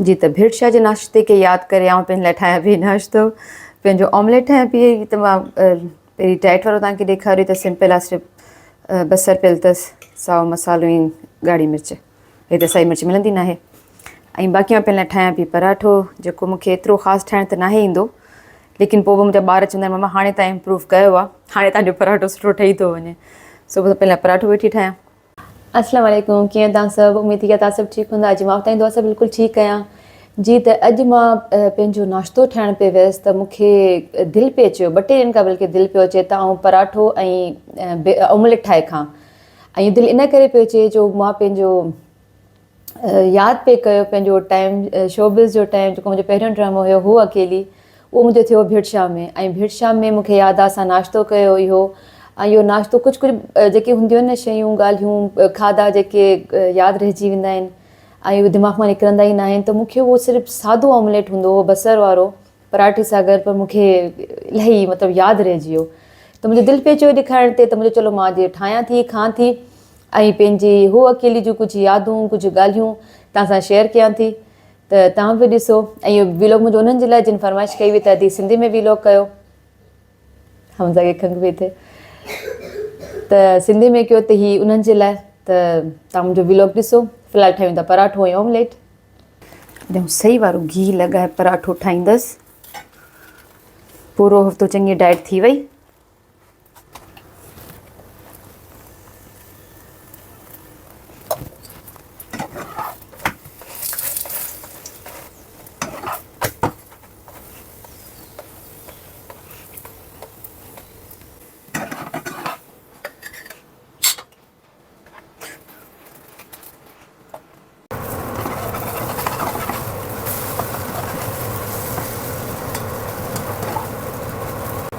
جي ته ڀيٽ شاهه جي ناشتي کي ياد ڪري آئون پنهنجي لاء ٺاهيان پيئي ناشتو پنهنجو آمليٽ ٺاهيان پيئي ته مان پهرين ڊائيٽ وارو توهان کي ڏيکاريو ته سمپل آ صرف بصر پيل تس سائو مسالو ۽ ڳاڙهي مرچ هي ته سائي مرچ ملندي ناهي ۽ باقي مان پنهنجي لاء ٺاهيان پيئي پراٺو جيڪو مون کي ايترو خاص ٺاهڻ ته ناهي ايندو ليڪن پوء به منهنجا ٻار چوندا آهن مما هاڻي تان امپروو ڪيو آ هاڻي تهانجو پراٺو سٺو ٺهي ٿو وڃي سو پنهنجي لاء پراٺو ويٺي ٺاهيان اسلام عليڪم ڪيئن توهان سڀ اميد ٿي ڪريان توهان سڀ ٺيڪ هوندا اڄ مان وٽان دعا سڀ بلڪل ٺيڪ ڪيان جي ته اڄ مان پنهنجو ناشتو ٺاهڻ پئي ويس ته مون کي دل پئي چيو ٻه ٽي ڏينهن کان بلڪل دل پيو اچي ته آئون پراٺو ۽ آمليٽ ٺاهي کان ۽ دل ان ڪري پيو چي جو مان پنهنجو ياد پئي ڪيو پنهنجو ٽائيم شوبز جو ٽائيم جيڪو منهنجو پهريون ڊرامو هيو هو اڪيلي اهو منهنجو ٿيو ڀيٽ شام ۾ ۽ ڀيٽ شام ۾ مونکي ياد آ اسان ناشتو ڪيو هو اهو ۽ اهو ناشتو ڪجهه ڪجهه جيڪي هونديون آهن نه شيون ڳالهيون کاڌا جيڪي ياد رهجي ويندا آهن ۽ دماغ مان نڪرندا ئي ناهن ته مونکي اهو صرف سادو آمليٽ هوندو هو بصر وارو پراٺي ساگر پر مون کي الائي مطلب ياد رهجي ويو ته منهنجو دل پئي چيو ڏيکارڻ تي ته منهنجو چلو مان جي ٺاهيان ٿي کان ٿي ۽ پنهنجي هو اڪيلي جون ڪجهه يادون ڪجهه ڳالهيون توهان سان شيئر ڪيان ٿي ته توهان به ڏسو ۽ اهو ويلوگ منهنجو انهن جي لاء جن فرمائش ڪئي هئي ته ادي سنڌي ۾ ويلوگ ڪيو هم ساڳي کنگ به ٿي ته سنڌي ۾ ڪيو ته هي انهن جي لاء ته توهان منهنجو ويلوگ ڏسو في الحال ٺاهيون ٿا پراٺو ۽ اومليٽ ڄڻ سئي وارو گيهه لڳائي پراٺو ٺاهيندس. پورو هفتو چڱي ڊائيٽ ٿي وئي.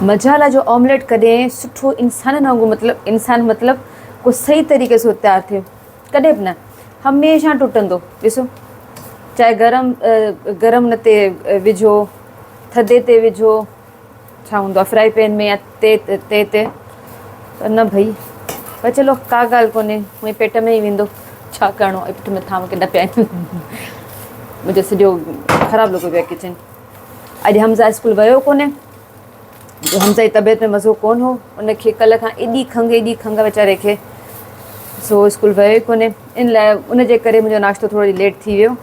مجالا جو آمليٽ ڪڏهن سٺو انسانن وانگر مطلب انسان مطلب ڪو صحيح طريقي سو تيار ٿيو ڪڏهن به نه هميشه ٽٽندو ڏسو چاهي گرم گرم نه تي وجهو ٿڌي تي وجهو ڇا هوندو آ فرائي پين ۾ يا تي تي تي پر نه ڀئي پر چلو ڪا ڳالهه ڪونهي هوئي پيٽ ۾ ئي ويندو ڇا ڪرڻو آهي پٺ مٿان مونکي نه پيا منهنجو سڄو خراب لڳو پيو ڪچن اڄ حمزه اسڪول ويو ڪونهي جو حمزه جي طبيعت ۾ مزو ڪون هو ان کي ڪل کان ايڏي کنگ ايڏي کنگ ويچاري کي سو اسڪول ويو ئي ڪونهي ان لاء ان جي ڪري منهنجو ناشتو ٿورو ليٽ ٿي ويو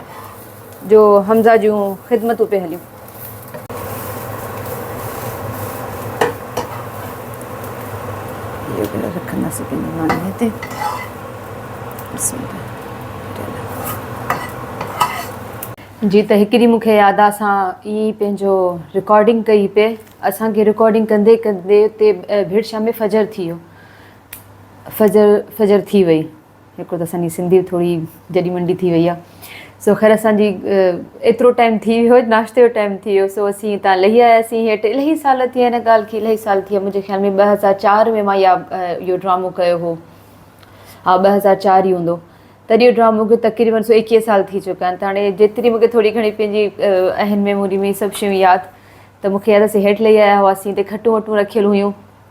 جو حمزه جون خدمتون پيا هليون جي ته هڪڙي مون کي ياد آ اسان ايئن ئي پنهنجو رڪارڊنگ ڪئي پئي اسان کي رڪارڊنگ ڪندي ڪندي اتي ڀيڙ شام فجر ٿي ويو فجر فجر ٿي وئي هڪ ته اسان جي سنڌي به ٿوري جڏي منڊي ٿي وئي آهي سو خير اسان جي ايترو ٽائيم ٿي ويو هو ناشتي جو ٽائيم ٿي ويو سو اسين هتان لهي آياسين هيٺ الهي سال ٿي هن ڳالهه کي الهي سال ٿي منهنجي خيال ۾ ٻه هزار چار ۾ مان يا اهو ڊرامو ڪيو هو ها ٻه هزار چار ئي هوندو تڏهن اهو ڊرامو کي تقريبن سو ايڪيهه سال ٿي چڪا آهن ته هاڻي جيتري مونکي ٿوري گهڻي پنهنجي اهن ميموري ۾ سڀ شيون ياد ته مونکي ياد اسين هيٺ لهي آيا هئاسين هتي کٽون وٽون رکيل هيون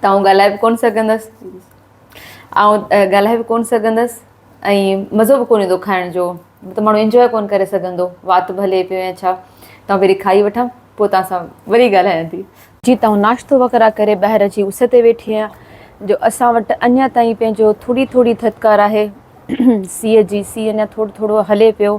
ته آئون ڳالهائي به ڪونه سگهندس. آئون ڳالهائي به ڪونه سگهندس ۽ مزو به ڪونه ايندو کائڻ جو. ته ماڻهو انجوائي ڪونه ڪري سگهندو. وات به هلي پيو يا ڇا. ته آئون پهرين کائي وٺان پوء توهان سان وري ڳالهايان ٿي. جي ته آئون ناشتو وغيره ڪري ٻاهر اچي اس تي ويٺي آهيان جو اسان وٽ اڃا تائين پنهنجو ٿوري ٿوري ٿڌڪار آهي. سيء جي سيء اڃا ٿورو ٿورو هلي پيو.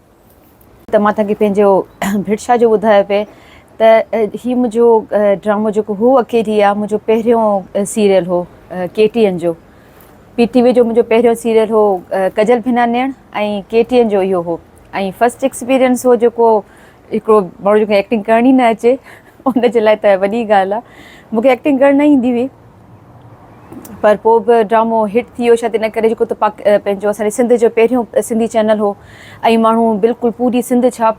ته مان توهان کي پنهنجو ڀرشا جو ٻڌايو پئي ته هي منهنجو ڊرامو جيڪو هو اڪيلي آ منهنجو پهريون سيريل هو ڪي ٽي اين جو پي ٽي وي جو منهنجو پهريون سيريل هو ڪجل ڀنا نيڻ ۽ ڪي ٽي اين جو اهو هو ۽ فرسٽ ايڪسپيرينس هو جيڪو هڪڙو ماڻهو جيڪو ايڪٽنگ ڪرڻ ئي نه اچي ان جي لاء ته وڏي ڳالهه آ مونکي ايڪٽنگ ڪرڻ نه ايندي هئي پر پوء به ڊرامو هٽ ٿي ويو شايد ان ڪري جيڪو ته پاڪ پنهنجو اسان جي سنڌ جو پهريون سنڌي چينل هو ۽ ماڻهو بلڪل پوري سنڌ ڇا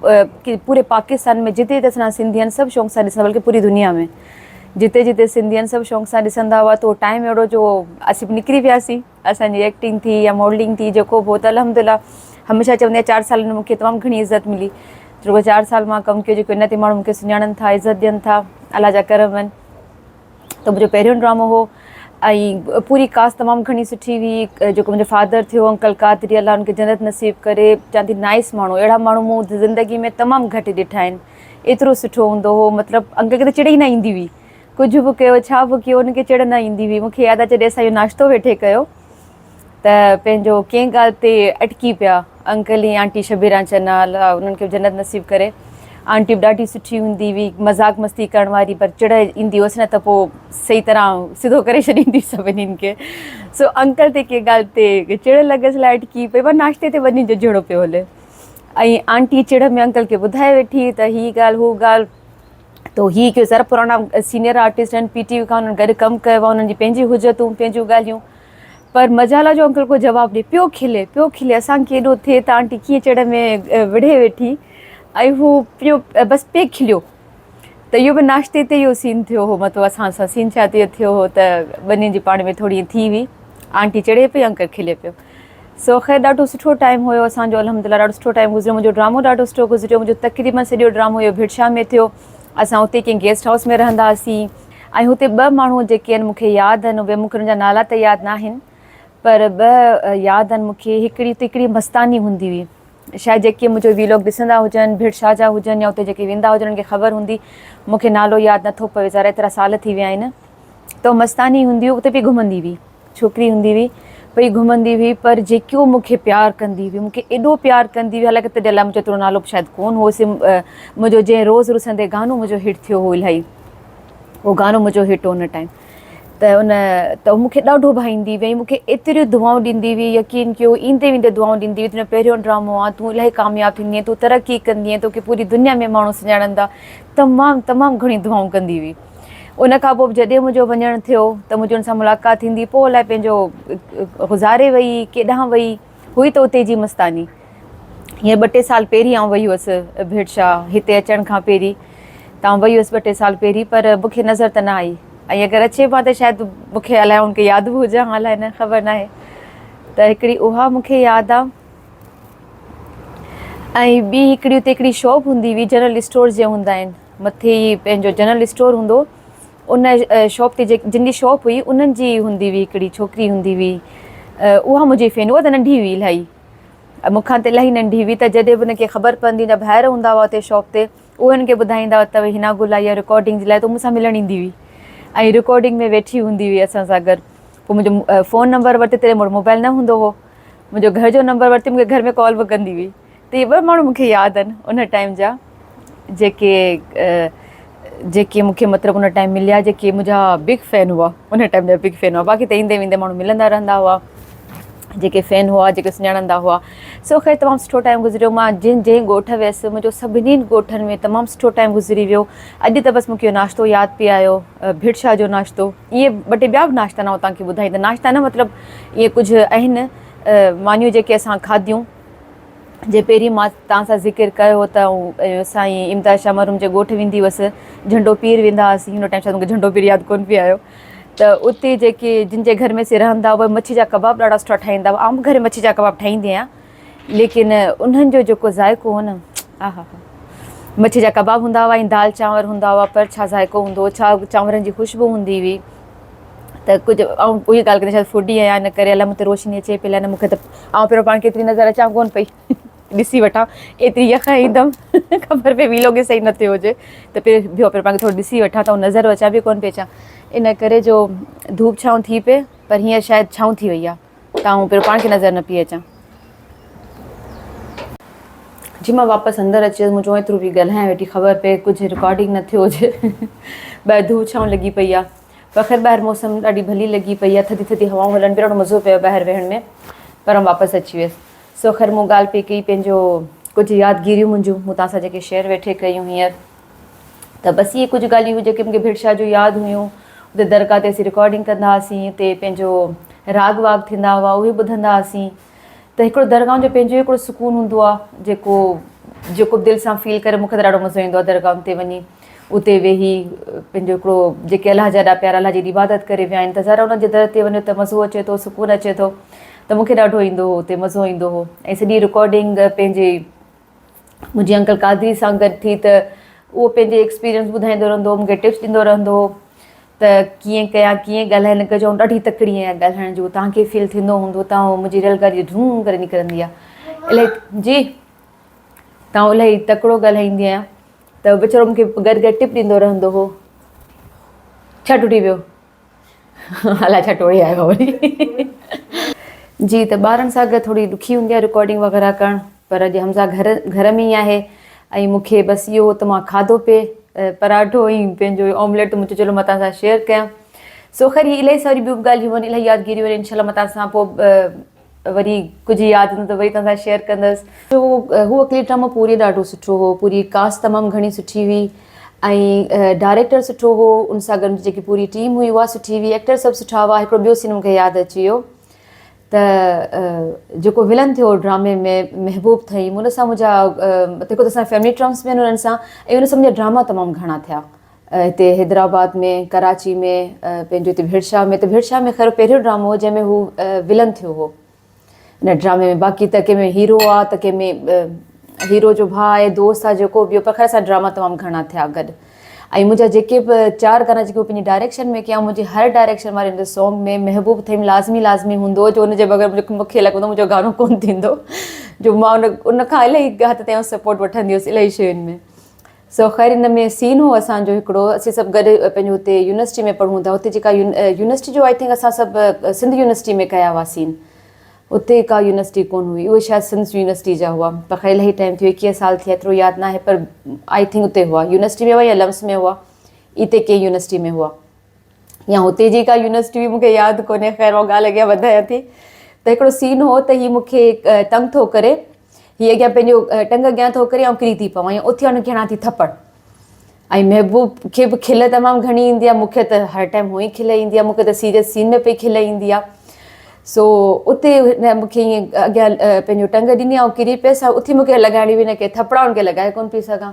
پوري پاڪستان ۾ جتي جتي اسان سنڌي آهن سڀ شوق سان ڏسندا بلڪه پوري دنيا ۾ جتي جتي سنڌي آهن سڀ شوق سان ڏسندا هئا تو ٽائم اهڙو جو اسين به نڪري وياسين اسان جي ايڪٽنگ ٿي يا ماڊلنگ ٿي جيڪو به هو ته الحمد لله هميشه چوندي آهيان چار سالن ۾ مونکي تمام گهڻي عزت ملي چونڪه چار سال مان ڪم ڪيو جيڪو ان تي ماڻهو مونکي سڃاڻن ٿا عزت ڏين ٿا الله جا ڪرم آهن ته منهنجو پهريون ڊرامو هو ۽ پوري ڪاسٽ تمام گهڻي سٺي هئي جيڪو منهنجو فادر ٿيو انڪل قادري الله ان کي جنت نصيب ڪري چوان ٿي نائس ماڻهو اهڙا ماڻهو مون زندگي ۾ تمام گهٽ ڏٺا آهن ايترو سٺو هوندو هو مطلب انڪل کي ته چڙ ئي نه ايندي هئي ڪجهه به ڪيو ڇا به ڪيو ان کي چڙ نه ايندي هئي مون کي ياد آهي جڏهن اسان اهو ناشتو ويٺي ڪيو ته پنهنجو ڪنهن ڳالهه تي اٽڪي پيا انڪل ۽ آنٽي شبيران چنا الله انهن کي جنت نصيب ڪري آنٽي به ڏاڍي سٺي هوندي هئي مذاق مستي ڪرڻ واري پر چڙ ايندي هوس نه ته پوء صحيح طرح سڌو ڪري ڇڏيندي سڀني کي سو انڪل تي ڪنهن ڳالهه تي چڙ لڳس لاء اٽڪي پئي پر ناشتي تي وڃي جو جهيڙو پيو هلي ۽ آنٽي چڙ ۾ انڪل کي ٻڌائي ويٺي ته هي ڳالهه هو ڳالهه تو هي ڪيو سر پراڻا سينيئر آرٽسٽ آهن پي ٽي وي کان انهن گڏ ڪم ڪيو آهي انهن جي پنهنجي حجتون پنهنجون ڳالهيون پر مجالا جو انڪل ڪو جواب ڏئي پيو کلي پيو کلي اسان کي ايڏو ٿئي ته آنٽي ڪيئن چڙ ۾ وڙهي ويٺي ۽ هو پيو بس پئي کليو ته اهو به ناشتي تي اهو سين ٿيو هو مطلب اسان سان سين ڇا تي ٿيو هو ته ٻنهي جي پاڻ ۾ ٿوري ٿي هئي آنٽي چڙي پئي انڪل کلي پيو سو خير ڏاڍو سٺو ٽائيم هيو اسان جو الحمد لله ڏاڍو سٺو ٽائيم گذريو منهنجو ڊرامو ڏاڍو سٺو گذريو منهنجو تقريبن سڄو ڊرامو اهو ڀٽشاهه ۾ ٿيو اسان اتي ڪنهن گيسٽ هائوس ۾ رهندا هئاسين ۽ هتي ٻه ماڻهو جيڪي ان مون کي ياد ان اهي مون کي انهن جا نالا ته ياد ناهن پر ٻه ياد ان مون کي هڪڙي اتي هڪڙي مستاني هوندي هئي شايد جيڪي منهنجو ويلوگ ڏسندا هجن ڀيڙ شاهه جا هجن يا اتي جيڪي ويندا هجن انهن کي خبر هوندي مون کي نالو ياد نٿو پوي ظاهر ايترا سال ٿي ويا آهن ته مستاني هوندي هئي اتي پئي گهمندي هئي. ڇوڪري هوندي هئي پئي گهمندي هئي پر جيڪو مون کي پيار ڪندي هئي مون کي ايڏو پيار ڪندي هئي حالانڪه تڏهن الاء منهنجو ايترو نالو به شايد ڪون هو سم منهنجو جنهن روز رسندي گانو منهنجو هٽ ٿيو هو الاهي اهو گانو منهنجو هٽ هو ان ٽائيم ته ان ته مون کي ڏاڍو ڀائيندي وئي مون کي ايتريون دعائون ڏيندي هئي يقين ڪيو ايندي ويندي دعائون ڏيندي هئي تنهنجو پهريون ڊرامو آ تون الاهي ڪامياب ٿيندينء تون ترقي ڪندينء توکي پوري دنيا ۾ ماڻهو سڃاڻندا تمام تمام گهڻيون دعائون ڪندي هئي ان کان پوء جڏهن منهنجو وڃڻ ٿيو ته منهنجي ان سان ملاقات ٿيندي پوء الائي پنهنجو گذاري وئي ڪيڏانهن وئي هئي ته اتي جي مستاني هيئن ٻه ٽي سال پهرين آئون وئي هئس ڀيٽشا هتي اچڻ کان پهرين تان وئي هئس ٻه ٽي سال پهرين پر مون کي نظر ته نه آئي ۽ اگر اچي به ته شايد مون کي الائي ان کي ياد به هجان هان الائي نه خبر ناهي ته هڪڙي اها مون کي ياد آ ۽ ٻي هڪڙي اتي هڪڙي شاپ هوندي هئي جنرل اسٽور جي هوندا آهن مٿي ئي پنهنجو جنرل اسٽور هوندو هو. ان شاپ تي جن جي شاپ هئي انهن جي هوندي هئي هڪڙي ڇوڪري هوندي هئي اها منهنجي فين هئا ته ننڍي هئي الاهي مون کان ته الاهي ننڍي هئي ته جڏهن به ان کي خبر پوندي هئي ته ڀائر هوندا هئا اتي شاپ تي اهي هن کي ٻڌائيندا هئا ته هنا گل آئي آهي رڪارڊنگ جي لاء ته مون سان ملڻ ايندي هئي ۽ رڪارڊنگ ۾ ويٺي هوندي هئي اسان سان گڏ پوء منهنجو فون نمبر ورتي تڏهن مون وٽ موبائل نه هوندو هو منهنجو گهر جو نمبر ورتي مون کي گهر ۾ ڪال به ڪندي هئي ته اهي ٻه ماڻهو مون کي ياد آهن ان ٽائيم جا جيڪي جيڪي مون کي مطلب ان ٽائيم مليا جيڪي منهنجا بگ فين هئا ان ٽائيم جا بگ فين هئا باقي ته ايندي ويندي ماڻهو ملندا رهندا هئا جيڪي فين هئا جيڪي سڃاڻندا هئا سو خير تمام سٺو ٽائيم گذريو ماں جن جنهن ڳوٺ ويس منهنجو سڀني ڳوٺن ۾ تمام سٺو ٽائيم گذري ويو اڄ ته بس مون کي ناشتو ياد پي آيو ڀٽ شاهه جو ناشتو اهي ٻه ٽي ٻيا به ناشتا ناهو تان کي ٻڌائي ته ناشتا نه مطلب اهي ڪجهه اهن مانيون جيڪي اسان کاڌيون جي پهرين مان توهان سان ذڪر ڪيو هو ته سائين امداد شاهه مرحوم جي ڳوٺ ويندي هئس جهنڊو پير ويندا هئاسين هن ٽائيم شايد مون کي جهنڊو پير ياد ڪونه پئي آيو ته اتي جيڪي جن جي گهر ۾ سي رهندا هئا مڇي جا ڪباب ڏاڍا سٺا ٺاهيندا هئا آئون به گهري مڇي جا ڪباب ٺاهيندي آهيان ليڪن انهن جو جيڪو ذائقو هو نه آها ها مڇي جا ڪباب هوندا هئا ۽ دال چانور هوندا هئا پر ڇا ذائقو هوندو هو ڇا چانورن جي خوشبو هوندي هئي ته ڪجهه آئون اهي ڳالهه ڪندي شايد فوڊي آهيان ان ڪري الائي مون تي روشني اچي پئي الائي نه مون کي ته آئون پهريون پاڻ کي ايتري نظر اچان ڪونه پئي ڏسي وٺان ايتري يخ ايندم خبر پئي ويلو کي صحيح نه ٿيو هجي ته پهري بيهو پهريون پاڻ کي ٿورو ڏسي وٺان ته آئون نظر اچان پئي ڪونه پئي اچان ان ڪري جو ڌوپ ڇانو ٿي پئي پر هينئر شايد ڇانو ٿي وئي آهي تائون پير پاڻ کي نظر نه پئي اچان. جي مان واپس اندر اچي ويس مون چيو ايترو پئي ڳالهايان ويٺي خبر پئي ڪجهه رڪارڊنگ نه ٿيو هجي ٻاهر ڌوء ڇانو لڳي پئي آ پر خير ٻاهر موسم ڏاڍي ڀلي لڳي پئي آ ٿڌي ٿڌي هوائون هلن پيون ڏاڍو مزو پيو ٻاهر ويهڻ ۾ پر واپس اچي ويس سو خير مون ڳالهه پئي ڪئي پنهنجو ڪجهه يادگيريون منهنجون مون توهان سان جيڪي شيئر ويٺي ڪيون هينئر ته بس اهي ڪجهه ڳالهيون هيون جيڪي مون کي ڀيڙ شاهه جون ياد هيون. اتي درگاهه تي اسين رڪارڊنگ ڪندا هئاسين. اتي پنهنجو راڳ واڳ ٿيندا هئا اهي ٻڌندا هئاسين. ته هڪڙو درگاهن جو پنهنجو ئي هڪڙو سڪون هوندو آهي جيڪو جيڪو به دل سان فيل ڪري مون کي ته ڏاڍو مزو ايندو آهي درگاهن تي وڃي اتي ويهي پنهنجو هڪڙو جيڪي الله جا ايڏا پيارا الله جي ايڏي عبادت ڪري ويا آهن ته ظاهر آهي انهن جي در تي وڃو ته مزو اچي ٿو سڪون اچي ٿو ته مون کي ڏاڍو ايندو هو اتي مزو ايندو هو ۽ سڄي رڪارڊنگ پنهنجي منهنجي انڪل قادري سان گڏ ٿي ته اهو پنهنجي ايڪسپيرينس ٻڌائيندو رهندو هو مونکي ٽپس ڏيندو رهندو هو ته ڪيئن ڪيان ڪيئن ڳالهائي هن کي چئون ڏاڍي تڪڙي آهي ڳالهائڻ جو توهان کي فيل ٿيندو هوندو ته هو منهنجي ريل گاڏي ڍون ڪري نڪرندي آهي الائي جي توهان الائي تڪڙو ڳالهائيندي آهيان ته ويچارو مونکي گڏ گڏ ٽپ ڏيندو رهندو هو ڇا ٽٽي ويو الاء ڇا ٽوڙي آيو آهي وري. جي ته ٻارن سان گڏ ٿوري ڏکي هوندي آهي رڪارڊنگ وغيره ڪرڻ پر اڄ حمزه گهر گهر ۾ ئي آهي ۽ مون کي بس اهو هو ته مان کاڌو پي پراٺو ۽ پنهنجو آمليٽ ته مون چيو چلو مان توهان سان شيئر ڪيان سو خير هي الاهي ساري ٻيون به ڳالهيون هن الاهي يادگيريون آهن انشاء الله مان توهان سان پوء وري ڪجهه ياد ايندو ته وري توهان سان شيئر ڪندس هو اڪيلي ڊرامو پوري ڏاڍو سٺو هو پوري ڪاسٽ تمام گهڻي سٺي هئي ۽ ڊائريڪٽر سٺو هو ان سان گڏ جيڪي پوري ٽيم هئي اها سٺي هئي ايڪٽر سڀ سٺا هئا هڪڙو ٻيو سين مونکي ياد اچي ويو ته جيڪو ولن ٿيو ڊرامي ۾ محبوب ٿئي ان سان منهنجا هڪ ته اسان فيملي ٽرمس ۾ ان سان ۽ ان سان منهنجا ڊراما تمام گهڻا ٿيا هتي حيدرآباد ۾ ڪراچي ۾ پنهنجو هتي ڀيڙشاهه ۾ ته ڀيڙشاهه ۾ خير پهريون ڊرامو هو جنهن ۾ هو ولن ٿيو هو ان ڊرامي ۾ باقي ته ڪنهن ۾ هيرو آ ته ڪنهن ۾ هيرو جو ڀاء آهي دوست آ جيڪو ٻيو پر خير اسان ڊراما تمام گهڻا ٿيا گڏ ۽ منهنجا جيڪي به چار گانا جيڪي پنهنجي ڊائريڪشن ۾ ڪيا منهنجي هر ڊائريڪشن واري هن سونگ ۾ محبوب ٿيم لازمي لازمي هوندو هو جو ان جي بغير مونکي مونکي لڳندو منهنجو گانو ڪون ٿيندو جو مان ان ان کان الاهي حد تائين سپورٽ وٺندي هيس الاهي شين ۾ سو خير ان ۾ سين هو اسان جو هڪڙو اسين سڀ گڏ پنهنجو هتي يونيورسٽي ۾ پڙهون ٿا هتي جيڪا يونيورسٽي جو آئي ٿنڪ اسان سڀ سنڌ يونيورسٽي ۾ ڪيا هئا سين اتي ڪا يونيورسٽي ڪون هئي اهي شايد سنڌ يونيورسٽي جا هئا پر خير الائي ٽائيم ٿيو ايڪيهه سال ٿيا ايترو ياد ناهي پر آئي ٿنڪ اتي هئا يونيورسٽي ۾ هئا يا لمس ۾ هئا اتي ڪنهن يونيورسٽي ۾ هئا. يا هتي جي ڪا يونيورسٽي هئي مونکي ياد ڪونهي خير هو ڳالهه اڳيان وڌايان ٿي ته هڪڙو سين هو ته هي مونکي تنگ ٿو ڪري هي اڳيان پنهنجو ٽنگ اڳيان ٿو ڪري آئون ڪري ٿي پوان يا اٿي هن کي هڻان ٿي ٿپڙ ۽ محبوب کي به کل تمام گهڻي ايندي آهي مونکي ته هر ٽائيم هو ئي کل ايندي آهي مونکي ته سيريس سين ۾ پئي کل ايندي آهي سو اتي مونکي ائين اڳيان پنهنجو ٽنگ ڏني آئون ڪري پيس اتي مونکي لڳائڻي هئي هن کي ٿپڙا هن کي لڳائي ڪونه پئي سگهان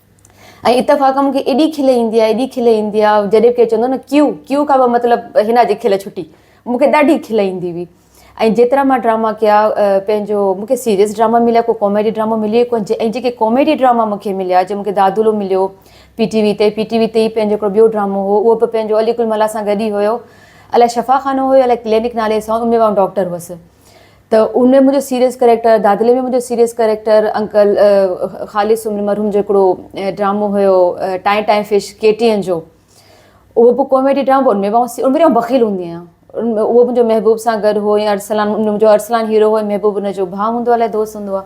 ۽ اتفاقا مون کي ايڏي کل ايندي آهي، ايڏي کل ايندي آهي، جڏهن به ڪير چوندو هو نه ڪيو، ڪيو کان به مطلب حنا جي کل ڇٽي. مون کي ڏاڍي کل ايندي هئي. ۽ جيترا مان ڊراما ڪيا پنهنجو مون کي سيريس ڊراما مليا ڪو ڪاميڊي ڊرامو مليو ئي ڪونه جي ۽ جيڪي ڪاميڊي ڊراما مون کي مليا جي مون کي دادولو مليو پي ٽي وي تي پي ٽي وي تي ئي پنهنجو هڪڙو ٻيو ڊرامو هو اهو به پنهنجو علي گل ملاح سان گڏ ئي هيو الائي شفا خانو هيو الائي ڪلينڪ نالي سان ان ۾ به آئون ڊاڪٽر هئس ته ان ۾ منهنجو سيريس ڪريڪٽر، دادلي ۾ منهنجو سيريس ڪريڪٽر انڪل خالص سومري مرحوم جو هڪڙو ڊرامو هيو ٽائين ٽائين فش ڪي ٽي اين جو اهو به ڪاميڊي ڊرامو ان ۾ به ان ۾ به بخيل هوندي آهيان ان ۾ اهو منهنجو محبوب سان گڏ هو يا ارسلان منهنجو ارسلان هيرو هو محبوب ان جو ڀاء هوندو آهي الائي دوست هوندو آهي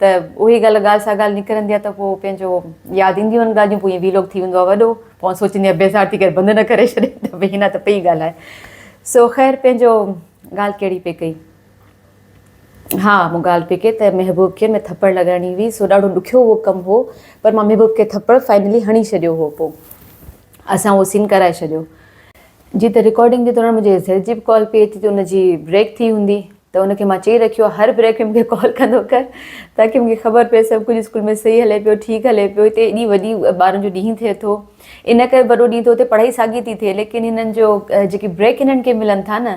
ته اهي ڳالهه ڳالهه سا ڳالهه نڪرندي آهي ته پوء پنهنجو ياد اينديون آهن ڳالهيون پوء ائين وي لوگ ٿي ويندو آهي وڏو پوء آئون سوچيندي آهيان بيزار ٿي ڪري بند نه ڪري ڇڏي ته به هن ته پئي ڳالهائي سو خير پنهنجو ڳالهه ڪهڙي پئي ڪئي ها مون ڳالهه پئي ڪئي ته محبوب کي ۾ ٿپڙ لڳائڻي هئي سو ڏاڍو ڏکيو اهو ڪم هو پر مان محبوب کي ٿپڙ فائنلي هڻي ڇڏيو هو پوء اسان اهو سين ڪرائي ڇڏيو جي ته رڪارڊنگ جي دوران منهنجي زيد جي به ڪال پئي اچي ته ان جي بريڪ ٿي هوندي ته ان کي مان چئي رکيو آهي هر بريڪ ۾ مون کي ڪال ڪندو ڪر تاڪي مون کي خبر پئي سڀ ڪجهه اسڪول ۾ صحيح هلي پيو ٺيڪ هلي پيو هتي ايڏي وڏي ٻارن جو ڏينهن ٿئي ٿو ان ڪري وڏو ڏينهن ٿو اتي پڙهائي ساڳي ٿي ٿئي ليڪن هنن جو جيڪي بريڪ هنن کي ملن ٿا نه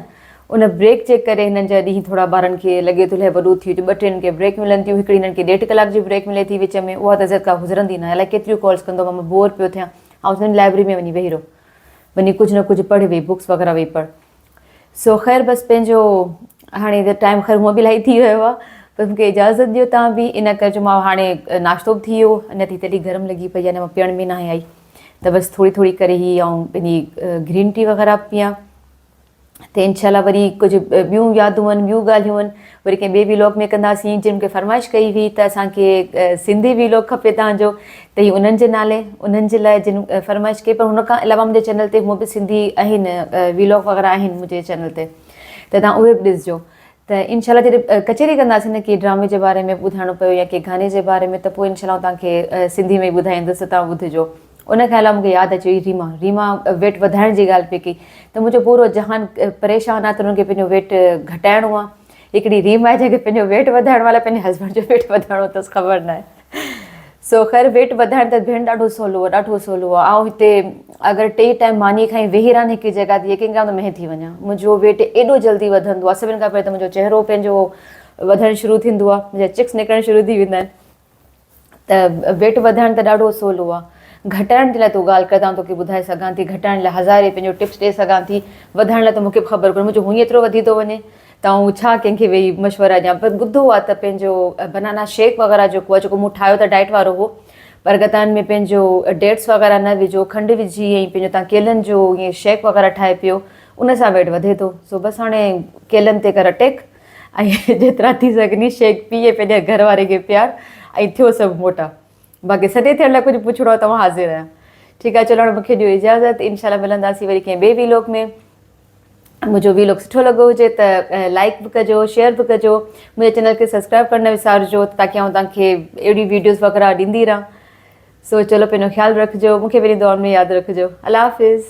ان بريڪ جي ڪري هنن جا ڏينهن ٿورا ٻارن کي لڳي ٿو الاهي وڏو ٿي ويو ٻه ٽي هنن کي بريڪ ملن ٿيون هڪڙي هنن کي ڏيڍ ڪلاڪ جي بريڪ ملي ٿي وچ ۾ اها ته زيد ڪا گذرندي ناهي الاهي ڪيتريون ڪالس ڪندو مان بور پيو ٿيان آئون چوندم لائبرري ۾ وڃي ويهي رهو وڃي ڪجهه نه ڪجهه پڙهه ويهه بوڪس وغيره ويهه پڙهه سو خير بس پنهنجو هاڻي ته ٽائيم خير هونء به الائي ٿي ويو آهي پر مون کي اجازت ڏيو تان به ان ڪري جو ماء هاڻي ناشتو به ٿي ويو اڃا تي تلي گرم لڳي پئي اڃا پيئڻ ۾ ناهي آئي ته بس ٿوري ٿوري ڪري هي آئون پنهنجي گرين ٽي وغيره پيان تي انشاء الله وري ڪجهه ٻيون يادون هن ٻيون ڳالهيون هن وري ڪنهن ٻي ويلاگ ۾ ڪنداسين جن کي فرمائش ڪئي هئي ته اسان کي سنڌي ويلاگ کپي تان جو ته هي انهن جي نالي انهن جي لاء جن فرمائش ڪئي پر هن کان علاوه منهنجي چينل تي هو به سنڌي آهن ويلاگ وغيره آهن منهنجي چينل تي ته تان اهي به ڏسجو ته انشاء الله جڏهن ڪچهري ڪنداسين نه ڪي ڊرامي جي باري ۾ ٻڌائڻو پيو يا ڪي گاني جي باري ۾ ته پوء انشاء الله تان کي سنڌي ۾ ٻڌائيندس ته تان ٻڌجو ان کان علاوه مون کي ياد اچي وئي ريما، ريما ويٽ وڌائڻ جي ڳالهه پئي ڪئي ته منهنجو پورو جهان پريشان آهي ته انهن کي پنهنجو ويٽ گهٽائڻو آهي هڪڙي ريما آهي جنهن کي پنهنجو ويٽ وڌائڻو آهي الائي پنهنجي هسبنڊ جو ويٽ وڌائڻو اٿس خبر ناهي سو خير ويٽ وڌائڻ ته ڀيڻ ڏاڍو سولو آهي ڏاڍو سولو آهي آئون هتي اگر ٽي ٽائيم ماني کائي ويهي رهان هڪ جگه تي يقين ڪريان ته مهي ٿي وڃان منهنجو ويٽ ايڏو جلدي وڌندو آهي سڀني کان پهرين ته منهنجو چهرو پنهنجو وڌڻ شروع ٿيندو آهي منهنجا چڪس نڪرڻ شروع ٿي ويندا آهن ته ويٽ وڌائڻ ته ڏاڍو سولو آ گهٽائڻ جي لاء تو ڳالهه ڪر ته آئون توکي ٻڌائي سگهان ٿي گهٽائڻ لاء هزارين پنهنجو ٽپس ڏئي سگهان ٿي وڌائڻ لاء ته مونکي به خبر ڪونهي منهنجو هونئن ئي ايترو وڌي ٿو وڃي ته آئون ڇا ڪنهن کي ويهي مشورا ڏيان پر ٻڌو آ ته پنهنجو بنانا شيڪ وغيره جيڪو آ جيڪو مون ٺاهيو ته ڊائيٽ وارو هو پر اگر تان ۾ پنهنجو ڊيٽس وغيره نه وجهو کنڊ وجهي ۽ پنهنجو تان ڪيلن جو ائين شيڪ وغيره ٺاهي پيو ان سان ويٽ وڌي ٿو سو بس هاڻي ڪيلن تي ڪر اٽيڪ ۽ جيترا ٿي سگهني شيخ پيء پنهنجي گهر واري کي پيار ۽ ٿيو سڀ موٽا باقي سڏي ٿيڻ لاء ڪجهه پڇڻو آهي توهان حاضر آهيان ٺيڪ آهي چلو هاڻي مون کي ڏيو اجازت ان شاء الله ملنداسي وري ڪنهن ٻي ويلوڪ ۾ منهنجو ويلوڪ سٺو لڳو هجي ته لائڪ به ڪجو شيئر به ڪجو منهنجي چينل کي سبسڪرائب ڪرڻ نه وسارجو تاڪي آئون توهان کي اهڙي ويڊيوز وغيرا ڏيندي رهان سو چلو پنهنجو خيال رکجو مون کي وري دعائن ۾ ياد رکجو الله حافظ